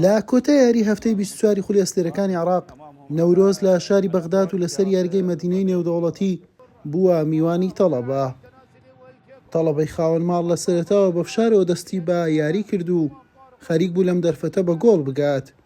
لە کۆتای یاری هەفتەی بیست و چواری خولی ئەستێرەکانی عێراق، نەورۆز لە شاری بەغداد و لەسەر یاریگەی مەدینەی نێودەوڵەتی بووە میوانی تەڵەبە. تەڵەبەی خاوەن ماڵ لە سەرەتاوە بە فشارەوە دەستی بە یاری کرد و خەریک بوو لەم دەرفەتە بە گۆڵ بگات،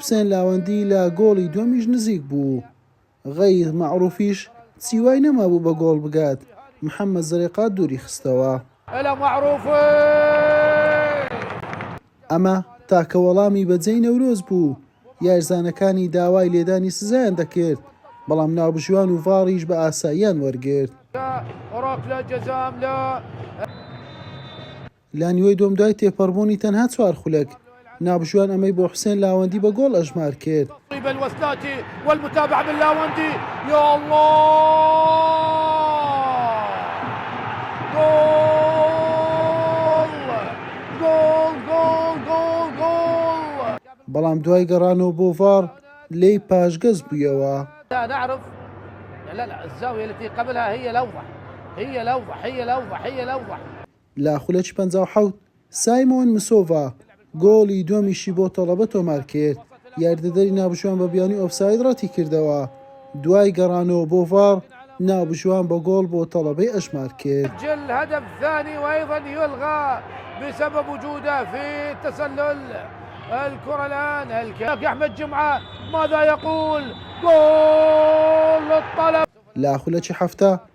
حوسێن لاوەندی لە گۆڵی دووەمیش نزیک بوو، غەیث مەعروفیش چی وای نەمابوو بە گۆڵ بگات، محەمەد زەرێقا دووری خستەوە. ئەمە تاکە وەڵامی بە جێی نەورۆز بوو، یارزانەکانی داوای لێدانی سزایان دەکرد، بەڵام ناوبژیوان و ڤاڕیش بە ئاساییان وەرگرت. لە نیوەی دووەم دوای تێپەڕبوونی تەنها چوار خولەک، نابژوان ئەمەی بۆ حوسێن لاوەندی بە گۆڵ ئەژمار کرد. بەڵام دوای گەڕانەوە بۆ ڤاڕ لێی پاشگەز بوویەوە. لە خولەکی پەنجا و حەوت، سایمۆن مسۆڤا گۆڵی دووەمیشی بۆ تەڵەبە تۆمارکرد، یاریدەدەری نابژوان بە بیانووی ئۆفساید رەتیکردەوە، دوای گەڕانەوە بۆ ڤاڕ، نابژوان بە گۆڵ بۆ تەڵەبەی ئەژمارکرد. لە خولەکی حەفتا،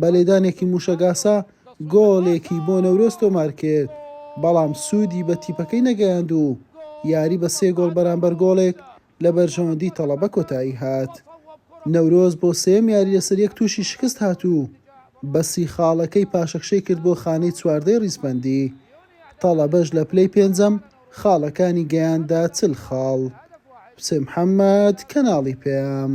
بە لێدانێکی مووشەکئاسا گۆڵێکی بۆ نەورۆز تۆمارکرد، بەڵام سوودی بە تیپەکەی نەگەیاند و یاری بە سێ گۆڵ بەرامبەر گۆڵێک لە بەرژەوەندی تەڵەبە کۆتاییهات. نەورۆز بۆ سێیەم یاری لەسەریەک تووشی شکستهات و بە سی خاڵەکەی پاشەکشەی کرد بۆ خانەی چواردەی ریزبەندی، تەڵەبەش لە پلەی پێنجەم خاڵەکانی گەیاندە چل خاڵ. حوسێن محەممەد، کەناڵی پەیام.